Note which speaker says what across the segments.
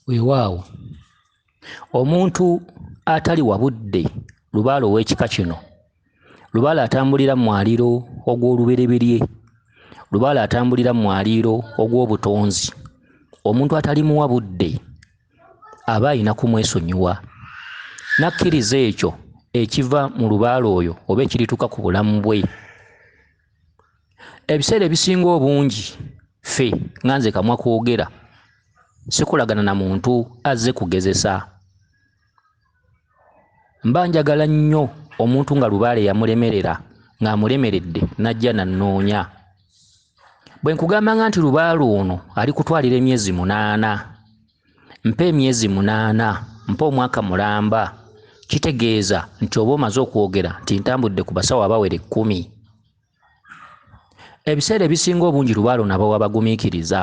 Speaker 1: weewaawo omuntu atali wa budde lubaale ow'ekika kino lubaale atambulira mu mwaliiro ogw'olubereberye lubaale atambulira mu mwaliiro ogw'obutonzi omuntu atalimuwa budde aba alina kumwesonyiwa n'akkiriza ekyo ekiva mu lubaale oyo oba ekirituuka ku bulamu bwe ebiseera ebisinga obungi ffe nga nze kamwa kwogera sikolagana na muntu azze kugezesa mba njagala nnyo omuntu nga lubaale yamulemerera ng'amulemeredde n'ajja nannoonya bwe nkugambanga nti lubaale ono ali kutwalira emyezi munaana mpa emyezi munaana mpa omwaka mulamba kitegeeza nti oba omaze okwogera nti ntambudde ku basawo abawera ekkumi ebiseera ebisinga obungi lubaalo nabawa bagumiikiriza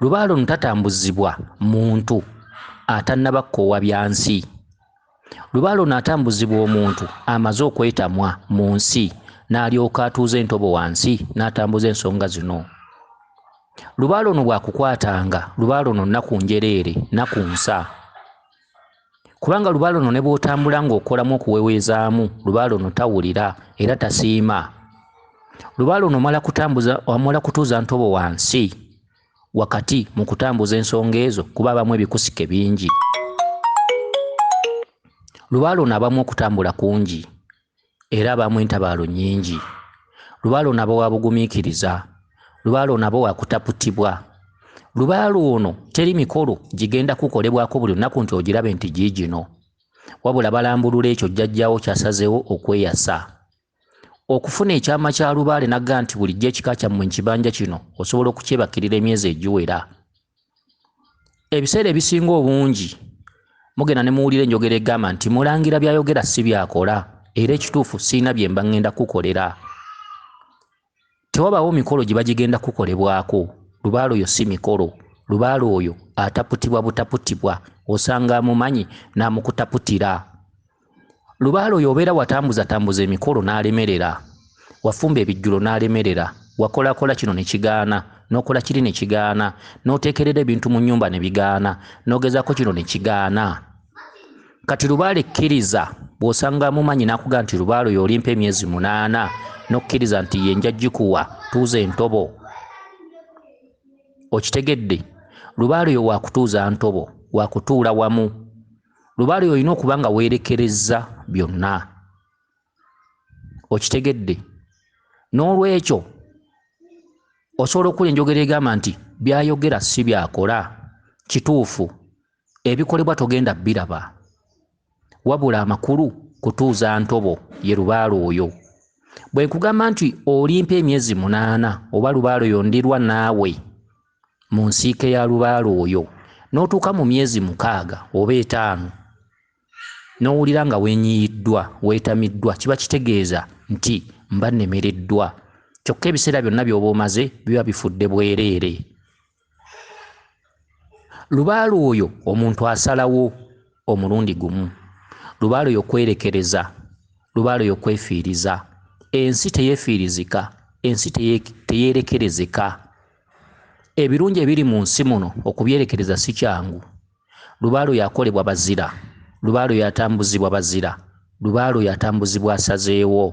Speaker 1: lubaalo ntatambuzibwa muntu atannaba kkoowa bya nsi lubaale ono atambuzibwa omuntu amaze okwetamwa mu nsi n'alyoka atuuza entobo wansi n'atambuza ensonga zino lubaale ono bwakukwatanga lubaale ono nnaku njereere naku nsa kubanga lubaale ono ne bw'otambula ng'okolamu okuweweezaamu lubaale ono tawulira era tasiima lubaale ono omala kutambuza omala kutuuza ntobo wansi wakati mu kutambuza ensonga ezo kuba abamu ebikusike bingi lubaale ono abamu okutambula kungi era abamu entabaalo nnyingi lubaale ono aba wa bugumiikiriza lubaale ono aba wakutaputibwa lubaale ono teri mikolo gigenda kukolebwako buli lunaku nti ogirabe nti giigino wabula balambulula ekyo jjajjaawo kyasazeewo okweyasa okufuna ekyama kya lubaale nagga nti bulijjo ekika kyammwe nkibanja kino osobola okukyebakirira emyezi egiwera ebiseera ebisinga obungi mugenda ne muwulira enjogera egamba nti mulangira byayogera si byakola era ekituufu siina byemba ŋŋenda kukolera tewabaawo mikolo gye bagigenda kukolebwako lubaale oyo si mikolo lubaale oyo ataputibwa butaputibwa osanga amumanyi n'amukutaputira lubaale oyo obeera watambuzatambuza emikolo n'alemerera wafumba ebijjulo n'alemerera wakolakola kino ne kigaana n'okola kiri ne kigaana n'oteekerera ebintu mu nnyumba ne bigaana n'ogezaako kino ne kigaana kati lubaale kkiriza bw'osanga mumanyi n'akuga nti lubaale oyo olimpa emyezi munaana n'okkiriza nti ye nja gikuwa tuuza entobo okitegedde lubaale oyo waakutuuza ntobo waakutuula wamu lubaale oyo olina okuba nga weerekerezza byonna okitegedde n'olwekyo osobola okukula enjogera egamba nti byayogera si byakola kituufu ebikolebwa togenda biraba wabula amakulu kutuuza ntobo ye lubaale oyo bwe nkugamba nti olimpa emyezi munaana oba lubaale oyo ndirwa naawe mu nsiike ya lubaale oyo n'otuuka mu myezi mukaaga oba etaano n'owulira nga wenyiyiddwa weetamiddwa kiba kitegeeza nti mba nnemereddwa kyokka ebiseera byonna by'oba omaze biba bifudde bwereere lubaale oyo omuntu asalawo omulundi gumu lubaale oyo kwerekereza lubaale oyo kwefiiriza ensi teyefiirizika ensi teyerekerezeka ebirungi ebiri mu nsi muno okubyerekereza si kyangu Lubaale oyo akolebwa bazira. Lubaale oyo atambuzibwa bazira. Lubaale oyo atambuzibwa asazeewo.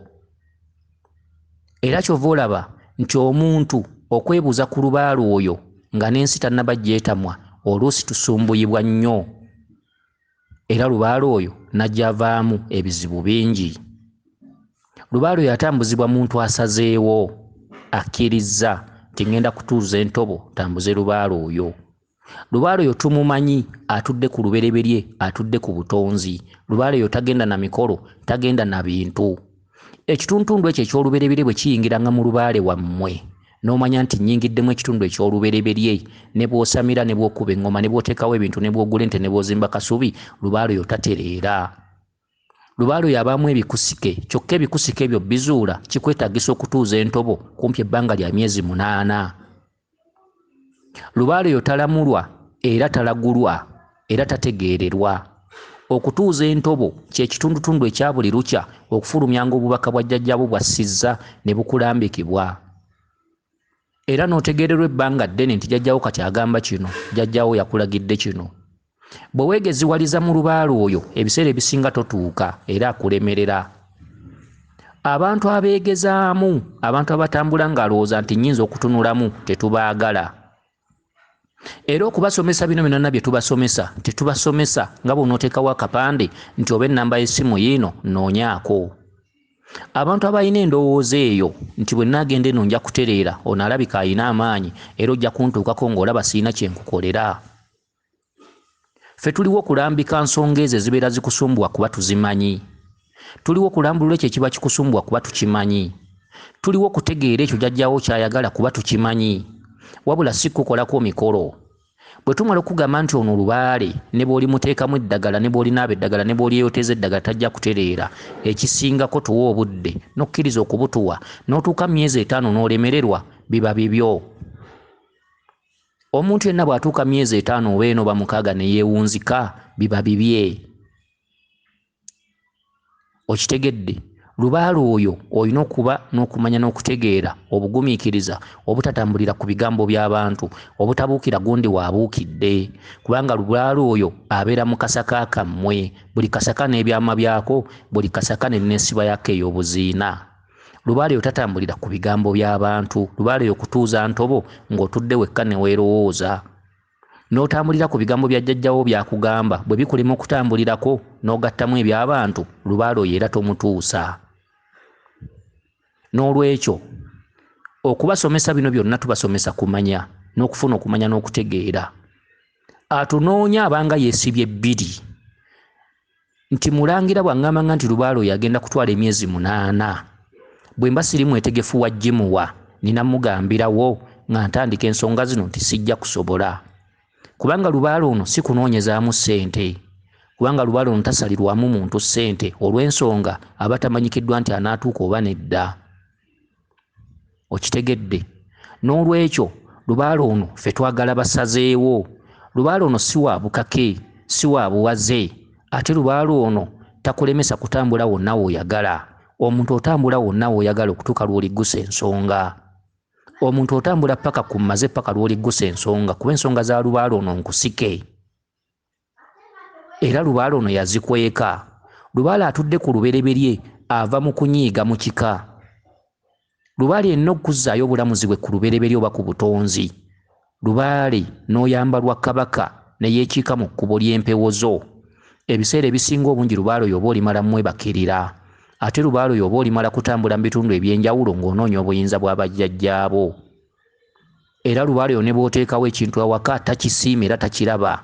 Speaker 1: Era kyova olaba nti omuntu okwebuuza ku lubaale oyo nga n'ensi tannaba gyetamwa oluusi tusumbuyibwa nnyo. Era lubaale oyo nagyavaamu ebizibu bingi. Lubaale oyo atambuzibwa muntu asazeewo, akkirizza nti ngenda kutuuza entobo tambuze lubaale oyo. Lubaale oyo tumumanyi atudde ku lubereberye, atudde ku butonzi. Lubaale oyo tagenda na mikolo, tagenda na bintu. Ekituntundu ekyo eky'olubereberye bwe kiyingiranga mu lubaale wammwe, n'omanya nti nnyingiddemu ekitundu eky'olubereberye, ne bw'osamira, ne bw'okuba eŋŋoma, ne bw'oteekawo ebintu, ne bw'ogula ente, ne bw'ozimba kasubi, lubaale oyo tatereera. Lubaale oyo abaamu ebikusike kyokka ebikusike ebyo bizuula kikwetaagisa okutuuza entobo kumpi ebbanga lya myezi munaana. Lubaale oyo talamulwa era talagulwa era tategeererwa. Okutuuza entobo kye kitundutundu ekya buli lukya okufulumyanga obubaka bwa jjajjaabwo bw'assizza ne bukulambikibwa. Era n'otegeererwa ebbanga ddene nti jjajjaawo kati agamba kino, jjajjaawo yakulagidde kino. Bwe weegeziwaliza mu lubaale oyo, ebiseera ebisinga totuuka era akulemerera. Abantu abeegezaamu, abantu abatambula ng'alowooza nti nnyinza okutunulamu, tetubaagala. Era okubasomesa bino byonna bye tubasomesa, tetubasomesa nga bw'onooteekawo akapande nti oba ennamba y'essimu yiino nnoonyaako. Abantu abalina endowooza eyo nti bwe nnaagenda eno nja kutereera, ono alabika alina amaanyi era ojja kuntuukako ng'olaba sirina kye nkukolera. Ffe tuliwo kulambika nsonga ezo ezibeera zikusumbuwa kuba tuzimanyi. Tuliwo kulambulula ekyo ekiba kikusumbuwa kuba tukimanyi. Tuliwo kutegeera ekyo jajjawo kyayagala kuba tukimanyi. Wabula si kukukolako mikolo. Bwe tumala okugamba nti ono lubaale ne bwolimuteekamu eddagala ne bwolinaaba eddagala ne bwolyeyoteeza eddagala tajja kutereera, ekisingako tuwe obudde n'okkiriza okubutuwa n'otuuka mu myezi etaano n'olemererwa biba bibyo. Omuntu yenna bw'atuuka myezi etaano oba ena oba mukaaga ne yeewunzika biba bibye. Okitegedde? Lubaale oyo olina okuba n'okumanya n'okutegeera, obugumiikiriza, obutatambulira ku bigambo by'abantu, obutabuukira gundi w'abuukidde, kubanga lubaale oyo abeera mu kasaka kammwe, buli kasaka n'ebyama byako, buli kasaka n'enneesiba yaako ey'obuziina. Lubaale yo tatambulira ku bigambo by'abantu. Lubaale yo kutuuza ntobo ng'otudde wekka ne weerowooza. N'otambulira ku bigambo bya jjajjawo by'akugamba, bwe bikulema okutambulirako n'ogattamu eby'abantu, lubaale oyo era tomutuusa. N'olwekyo, okubasomesa bino byonna tubasomesa kumanya n'okufuna okumanya n'okutegeera. Atunoonya abanga yeesibye bbiri. nti mulangira bwangamba nga nti lubaalo yagenda kutwala emyezi munaana bwemba siri mwetegefu wa jimuwa nina mugambirawo nga ntandika ensonga zino nti sijja kusobola kubanga lubaalo ono si kunoonyezaamu ssente kubanga lubaalo ono tasalirwamu muntu ssente olw'ensonga aba tamanyikiddwa nti anaatuuka oba nedda okitegedde n'olwekyo lubaale ono fe twagala basazeewo lubaale ono si wa bukake si wa buwaze ate lubaale ono takulemesa kutambula wonna woyagala omuntu otambula wonna woyagala okutuuka lwoliggusa ensonga omuntu otambula paka ku maze paka lwoliggusa ensonga kuba ensonga za lubaale ono nkusike era lubaale ono yazikweka. Lubaale atudde ku lubereberye ava mu kunyiiga mu kika. Lubaale yenna okuzzaayo obulamuzi bwe ku lubereberye oba ku butonzi. Lubaale n'oyamba lwa Kabaka ne yeekiika mu kkubo ly'empewo zo. Ebiseera ebisinga obungi lubaale oyo oba olimala mmwebakirira. Ate lubaale oyo oba olimala kutambula mu bitundu eby'enjawulo ng'onoonya obuyinza bwa bajjajjaabo. era lubaale yo ne bw'oteekawo ekintu awaka takisiima era takiraba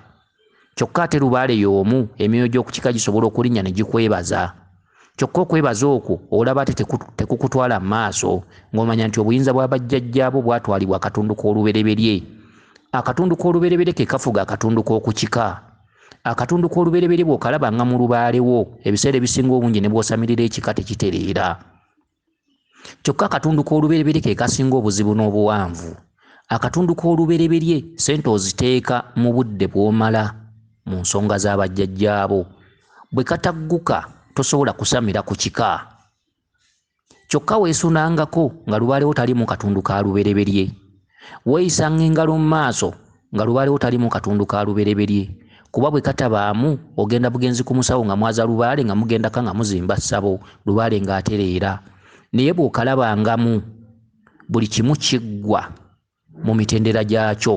Speaker 1: kyokka ate lubaale y'omu emyoyo gy'okukika gisobola okulinnya ne gikwebaza kyokka okwebaza okwo olaba ate tekukutwala mu maaso ng'omanya nti obuyinza bwa bajjajjaabo bwatwalibwa akatundu k'olubereberye akatundu k'olubereberye ke kafuga akatundu k'okukika akatundu k'olubereberye bw'okalabanga mu lubaalewo ebiseera ebisinga obungi ne bw'osamirira ekika tekitereera kyokka akatundu k'olubereberye ke kasinga obuzibu n'obuwanvu akatundu k'olubereberye sente oziteeka mu budde bw'omala mu nsonga z'abajjajjaabo bwe katagguka tosobola kusamira ku kika kyokka weesunangako nga lubaalewo taliimu katundu ka lubereberye Weeyisanga engalo mu maaso nga lubaalewo talimu katundu ka lubereberye kuba bwe katabaamu ogenda bugenzi ku musawo nga mwaza lubaale nga mugendaka nga muzimba ssabo lubaale ng'atereera naye bw'okalabangamu buli kimu kiggwa mu mitendera gyakyo.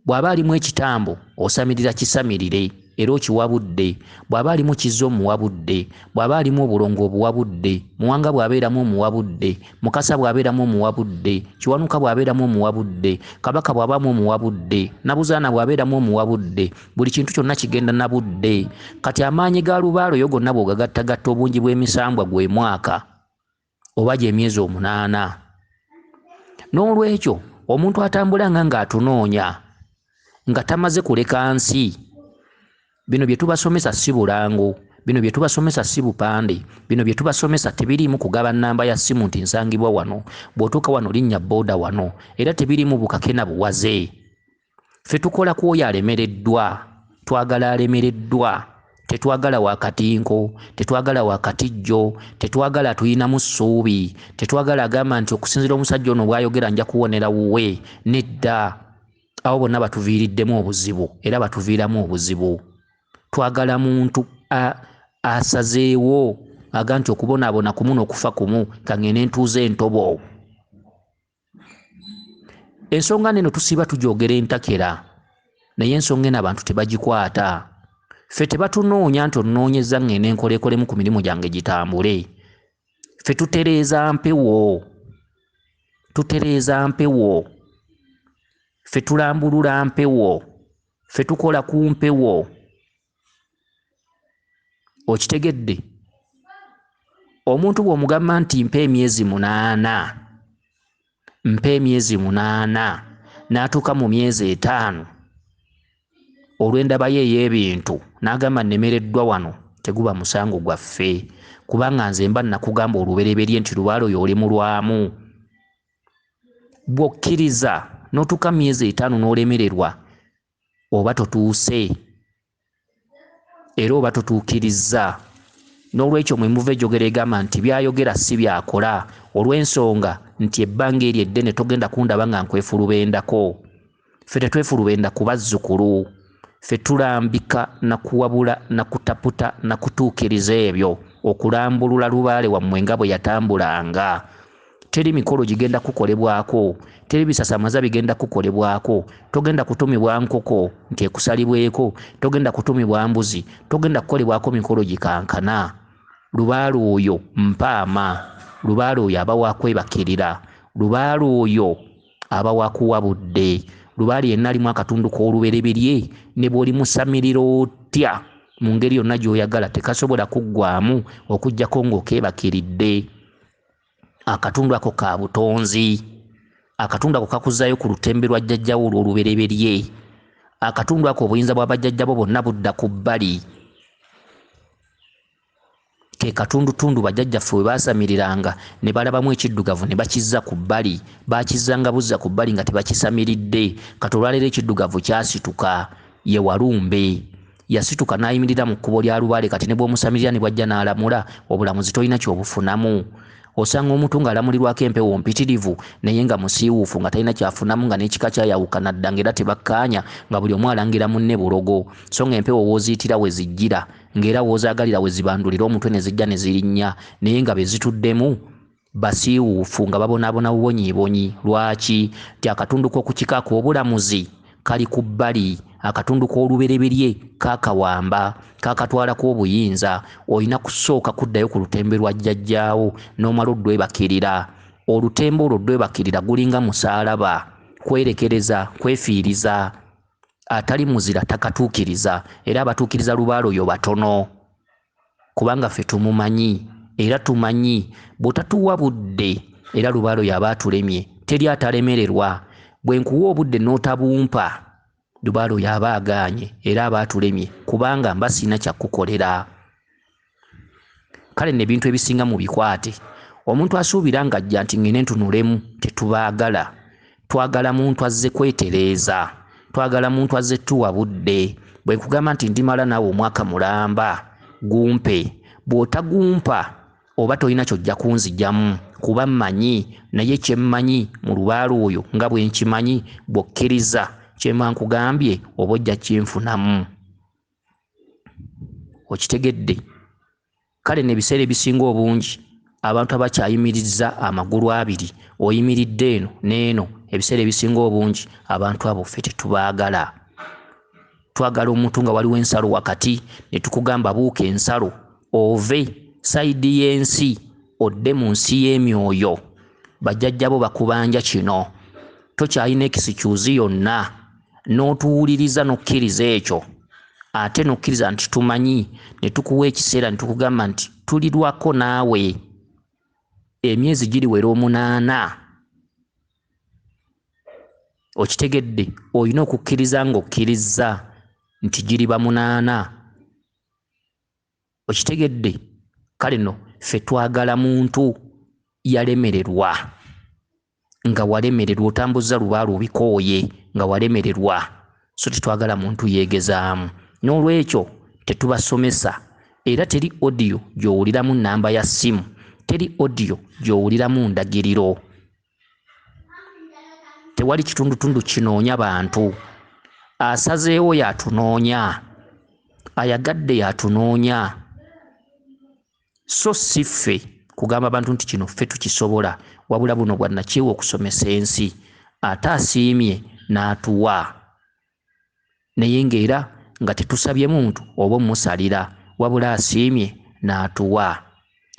Speaker 1: Bw'aba alimu ekitambo, osamirira kisamirire, era okiwa budde. Bw'aba alimu kizza omuwa budde. Bw'aba alimu obulongo obuwa budde. Muwanga bw'abeeramu omuwa budde. Mukasa bw'abeeramu omuwa budde. Kiwanuka bw'abeeramu omuwa budde. Kabaka bw'abaamu omuwa budde. Nabuzaana bw'abeeramu omuwa budde. Buli kintu kyonna kigenda na budde. Kati amaanyi ga lubaale oyo gonna bw'ogagattagatta obungi bw'emisambwa gwe mwaka. oba gy'emyezi omunaana n'olwekyo omuntu atambula nga ng'atunoonya nga tamaze kuleka nsi bino bye tubasomesa si bulango bino bye tubasomesa si bupande bino bye tubasomesa tebiriimu kugaba nnamba ya ssimu nti nsangibwa wano bw'otuuka wano linnya booda wano era tebiriimu bukake na buwaze ffe tukola ku oyo alemereddwa twagala alemereddwa tetwagala wakatinko tetwagala wakatijjo tetwagala tulinamu ssuubi tetwagala agamba nti okusinzira omusajja ono bwayogera nja kuwonera wuwe nedda abo bonna batuviiriddemu obuzibu era batuviiramu obuzibu twagala muntu asazeewo aga nti okubonaabona kumu nokufa kumu kangende ntuuza entobo ensonga neno tusiiba tujogera entakera naye ensonga eno abantu tebagikwata ffe tebatunoonya nti onoonyeza ng'eno enkolekolemu ku mirimu gyange gitambule ffe tutereeza mpewo tutereeza mpewo ffe tulambulula mpewo ffe tukola ku mpewo okitegedde omuntu bw'omugamba nti mpa emyezi munaana mpa emyezi munaana n'atuuka mu myezi etaano olw'endabayo ey'ebintu n'agamba nnemereddwa wano teguba musango gwaffe kubanga nze mba nakugamba olubereberye nti lubaala oyo oli mulwamu bw'okkiriza n'otuuka mu myezi etaano n'olemererwa oba totuuse era oba totuukirizza n'olwekyo mwe muva ejogera egamba nti byayogera si byakola olw'ensonga nti ebbanga eryo eddene togenda kundaba nga nkwefulubendako ffe tetwefulubenda ku bazzukulu ffe tulambika na kuwabula na kutaputa na kutuukiriza ebyo okulambulula lubaale wammwe nga bwe yatambulanga teri mikolo gigenda kukolebwako, teri bisasamaza bigenda kukolebwako, togenda kutumibwa nkoko nti ekusalibweko, togenda kutumibwa mbuzi, togenda kukolebwako mikolo gikankana. Lubaale oyo mpaama, lubaale oyo aba wakwebakirira, lubaale oyo aba wakuwa budde, lubaale yenna alimu akatundu k'olubereberye ne bw'olimusamirira otya mu ngeri yonna gy'oyagala tekasobola kuggwamu okuggyako ng'okeebakiridde. akatundu ako ka butonzi akatundu ako kakuzaayo ku lutembe lwa jjajjawo olw'olubereberye akatundu ako obuyinza bwa bajjajjabo bonna budda ku bbali ke katundutundu bajjajjaffe we baasamiriranga ne balabamu ekiddugavu ne bakizza ku bbali bakizzanga buzza ku bbali nga tebakisamiridde kati olwaleero ekiddugavu kyasituka ye walumbe Yasituka n'ayimirira mu kkubo lya lubaale kati ne bw'omusamirira ne bw'ajja n'alamula, obulamuzi tolina ky'obufunamu. Osanga omuntu ng'alamulirwako empewo mpitirivu naye nga musiiwuufu nga talina ky'afunamu nga n'ekika kyayawukana dda ng'era tebakkaanya nga buli omu alangira munne bulogo so ng'empewo w'oziyitira we zijjira ng'era w'ozaagalira we zibandulira omutwe ne zijja ne zirinnya naye nga be zituddemu Basiiwuufu nga babonaabona bubonyiibonyi. Lwaki? Nti akatundu k'oku kika ak'obulamuzi kali ku bbali, akatundu k'olubereberye kakawamba, kakatwalako obuyinza. Olina kusooka kuddayo ku lutembe lwa jjajjaawo n'omala oddwebakirira. Olutembe olwo oddwebakirira gulinga musaalaba, kwerekereza, kwefiiriza. Atali muzira takatuukiriza, era abatuukiriza lubaale oyo batono. kubanga ffe tumumanyi era tumanyi bw'otatuwa budde era lubaalo y'aba atulemye teri atalemererwa bwe nkuwa obudde n'otabumpa lubaalo y'aba agaanye era aba atulemye kubanga mba sirina kya kukukolera kale nno ebintu ebisinga mu bikwate omuntu asuubira ng'ajja nti ng'ene ntunulemu tetubaagala twagala muntu azze kwetereeza twagala muntu azze tuwa budde bwe nkugamba nti ndimala naawe omwaka mulamba gumpe bw'otagumpa oba tolina kyojja kunzijamu kuba mmanyi naye kyemmanyi mu lubaala oyo nga bwe nkimanyi bw'okkiriza kyemba nkugambye oba ojja kinfunamu okitegedde Kale nno ebiseera ebisinga obungi abantu abakyayimirizza amagulu abiri oyimiridde eno n'eno ebiseera ebisinga obungi abantu abo ffe tetubaagala twagala omuntu nga waliwo ensalo wakati ne tukugamba buuka ensalo ove sayidi y'ensi odde mu nsi y'emyoyo bajjajjabo bakubanja kino tokyalina ekisikyuzi yonna n'otuwuliriza n'okkiriza ekyo ate n'okkiriza nti tumanyi ne tukuwa ekiseera ne tukugamba nti tulirwako naawe emyezi giriwera omunaana okitegedde olina okukkiriza ng'okkirizza nti giriba munaana okitegedde kale no ffe twagala muntu yalemererwa nga walemererwa otambuzza lubaalo obikooye nga walemererwa so tetwagala muntu yeegezaamu n'olwekyo tetubasomesa era teri odiyo gy'owuliramu nnamba ya ssimu teri odiyo gy'owuliramu ndagiriro tewali kitundutundu kinoonya bantu asazeewo yatunoonya ayagadde yatunoonya so si ffe kugamba bantu nti kino ffe tukisobola wabula buno bwa nakyewa okusomesa ensi ate asiimye n'atuwa naye ng'era nga tetusabye muntu oba omusalira wabula asiimye n'atuwa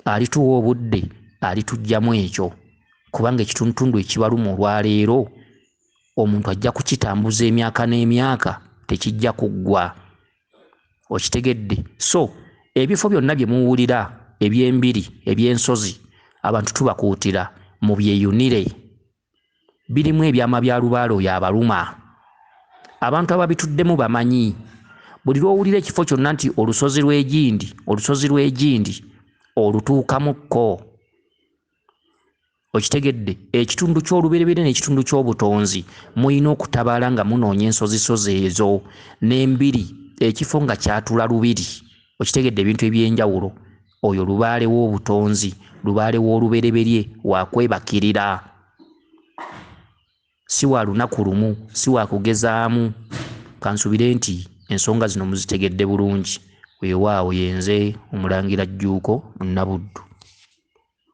Speaker 1: alituwa obudde alitugyamu ekyo kubanga ekitundutundu ekibaluma olwaleero omuntu ajja kukitambuza emyaka n'emyaka tekijja kuggwa okitegedde so ebifo byonna bye muwulira eby'embiri eby'ensozi abantu tubakuutira mu byeyunire birimu ebyama bya lubaale oyo abaluma abantu ababituddemu bamanyi buli lw'owulira ekifo kyonna nti olusozi lw'egindi olusozi lw'egindi olutuukamukko okitegedde ekitundu ky'olubereberye n'ekitundu ky'obutonzi mulina okutabaala nga munoonya ensozisozi ezo n'embiri ekifo nga kyatula lubiri okitegedde ebintu eby'enjawulo oyo lubaale w'obutonzi lubaale w'olubereberye wakwebakirira si wa lunaku lumu si wa kugezaamu kansubire nti ensonga zino muzitegedde bulungi weewaawo yenze omulangira jjuuko nabuddu